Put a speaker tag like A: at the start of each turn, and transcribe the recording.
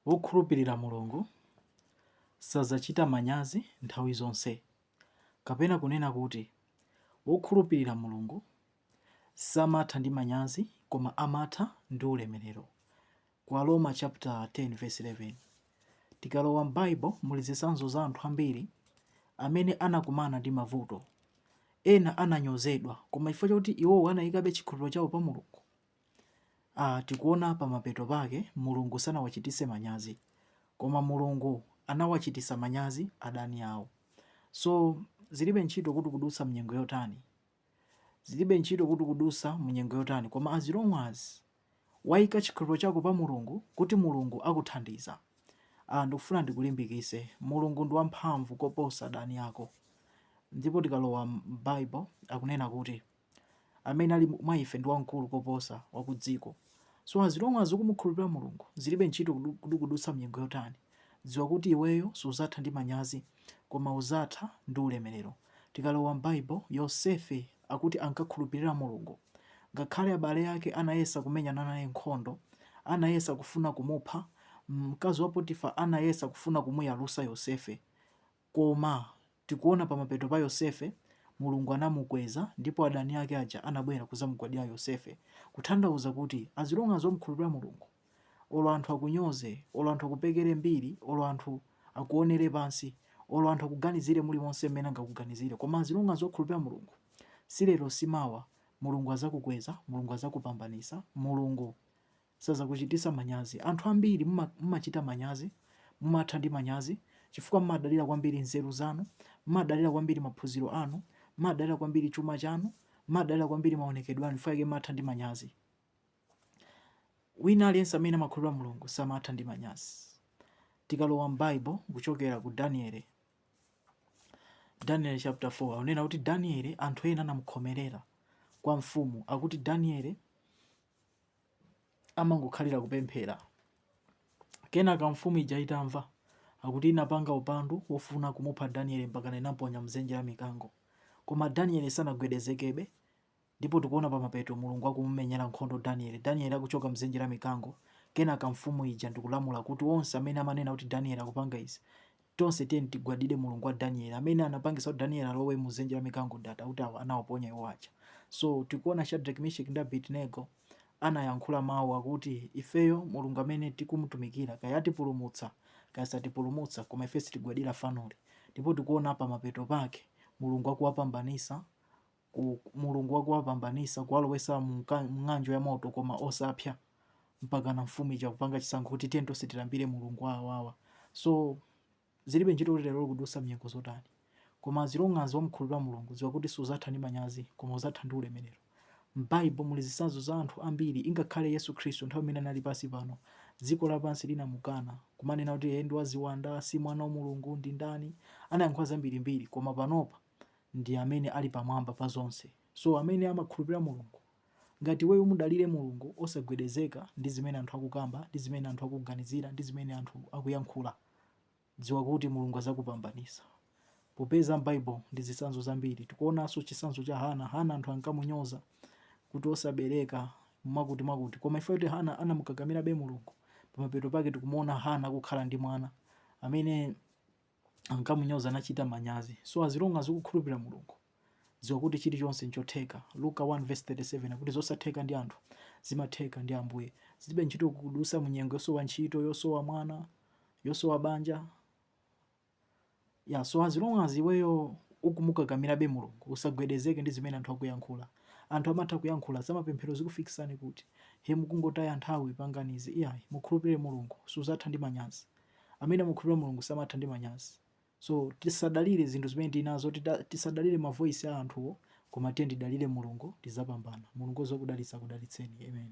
A: Wokhulupirira Mulungu sadzachita manyazi nthawi zonse, kapena kunena kuti, Wokhulupirira Mulungu samatha ndi manyazi koma amatha ndi ulemerero. Ku Aroma chaputala 10 vesi 11, tikalowa m'Baibulo muli zitsanzo za anthu ambiri amene anakumana ndi mavuto. Ena ananyozedwa, koma chifukwa chakuti iwowo anaikabe chikhulupiriro chawo pa Mulungu. Tikuona pamapeto pake mulungu sanawachitise manyazi koma mulungu anawachitisa manyazi adani awo so zilibe ntchito kuti ukudutsa munyengo yotani zilibe ntchito kuti ukudutsa munyengo yotani koma as long as waika chikhulupiro chako pa mulungu kuti mulungu akuthandiza ndikufuna ndikulimbikise mulungu ndi wamphamvu koposa adani ako ndipo tikalowa m'bible akunena kuti amene ali mwa ife ndi wamkulu koposa wa ku dziko. So as long as ukumukhulupirira Mulungu, zilibe ntchito kuti ukudutsa mnyengo yotani, dziwa kuti iweyo suzatha ndi manyazi koma uzatha ndi ulemerero. Tikalowa m'Bible, Yosefe akuti ankakhulupirira Mulungu. Ngakhale abale ake anayesa kumenyana naye nkhondo, anayesa kufuna kumupha, mkazi wa Potifa anayesa kufuna kumuyalusa Yosefe, Koma tikuona pamapeto pa Yosefe, Mulungu anamukweza ndipo adani ake aja anabwera kuzamugwadila Yosefe kutanthauza kuti as long as wamukhulupila Mulungu olo anthu akunyoze, olo anthu akupekele mbiri, olo anthu akuonele pansi, olo anthu akuganizile mulimonse mmene angakuganizile koma as long as wakhulupila Mulungu si lero si mawa Mulungu azakukweza, Mulungu azakupambanisa, Mulungu. Sazakuchitisa manyazi. Anthu ambiri mumachita manyazi, mumatha ndi manyazi, chifukwa mumadalira kwambiri nzeru zanu, mumadalira kwambiri maphunziro anu, mumadalira kwambiri chuma chanu, mumadalira kwambiri maonekedwe anu, chifukwa chake mumatha ndi manyazi. Wina aliyense amene amakhulupirira Mulungu samatha ndi manyazi. Tikalowa m'Baibo kuchokera ku Daniele, Daniele chapter 4 akunena kuti Daniele anthu ena anamukhomerera kwa mfumu, akuti Daniele amangokhalira kupemphera. Kenaka mfumu ija itamva, akuti inapanga upandu wofuna kumupha Daniele mpakana inamponya m'dzenje la mikango. Koma Daniele sanagwedezekebe, ndipo tikuona pamapeto Mulungu akumumenyera nkhondo Daniele. Daniele akuchoka m'dzenje la mikango, kenaka mfumu ija ndikulamula kuti onse amene amanena kuti Daniele akupanga izi, Tonse tiyeni tigwadire Mulungu wa Danieli amene anapangitsa kuti Danieli alowe mu dzenje la mikango ndi akuti anawaponya iwo aja. So tikuona Shadrack, Misheck ndi Abednego anayankhula mau akuti ifeyo Mulungu amene tikumutumikira kaya atipulumutsa kaya satipulumutsa koma ife sitigwadira fanoli ndipo tikuona pamapeto pake Mulungu akuwapambanisa ku Mulungu wakuwapambanisa kuwalowesa mu ng'anjo ya moto koma osapya mpakana mfumu ija kupanga chisankho kuti tiyeni tonse tilambire Mulungu wa awawa so zilibe ntchito kuti lero ukudusa mnyengo zotani koma as long as wamukhulupirira Mulungu dziwa kuti suzatha ndi manyazi koma uzatha ndi ulemerero. M'Bible muli zitsanzo za anthu ambiri ingakhale Yesu Khristu nthawi imene anali pansi pano, dziko lapansi linamukana, kumanena kuti iye ndi waziwanda, si mwana wa Mulungu, ndi ndani. Anayankhula zambirimbiri, koma panopa ndi amene ali pamwamba pa zonse. So amene amakhulupirira Mulungu, ngati iweyo umudalire Mulungu osagwedezeka ndi zimene anthu akukamba, ndi zimene anthu akuganizira, ndi zimene anthu akuyankhula, dziwa kuti Mulungu azakupambanisa. Popeza m'Bible muli zitsanzo zambiri. Tikuonanso chitsanzo cha Hannah. Hannah anthu ankamunyoza kuti osabereka, mwakuti mwakuti. Koma chifukwa choti Hannah anamukakamirabe Mulungu, pamapeto pake tikumuona Hannah akukhala ndi mwana amene. ankamunyoza anachita manyazi. So as long as ukukhulupirira Mulungu, dziwa kuti chilichonse nchotheka. Luka 1 vs 37 akuti zosatheka ndi anthu zimatheka ndi Ambuye. Zilibe ntchito ukudusa munyengo yosowa ntchito, yosowa mwana, yosowa banja. So as long as iweyo ukumukakamirabe Mulungu, usagwedezeke ndi zimene anthu akuyankhula. Anthu amatha kuyankhula zamapemphero zikufikisani kuti he mukungotaya nthawi panganizi iyayi mukhulupirire Mulungu suzatha ndi manyazi. Amene amakhulupirira Mulungu samatha ndi manyazi. So tisadalire zinthu zimene tili nazo, tisadalire ma voice a anthuwo koma tiyeni tidalire Mulungu tizapambana. Mulungu odziwa kudalitsa akudalitseni. Amen.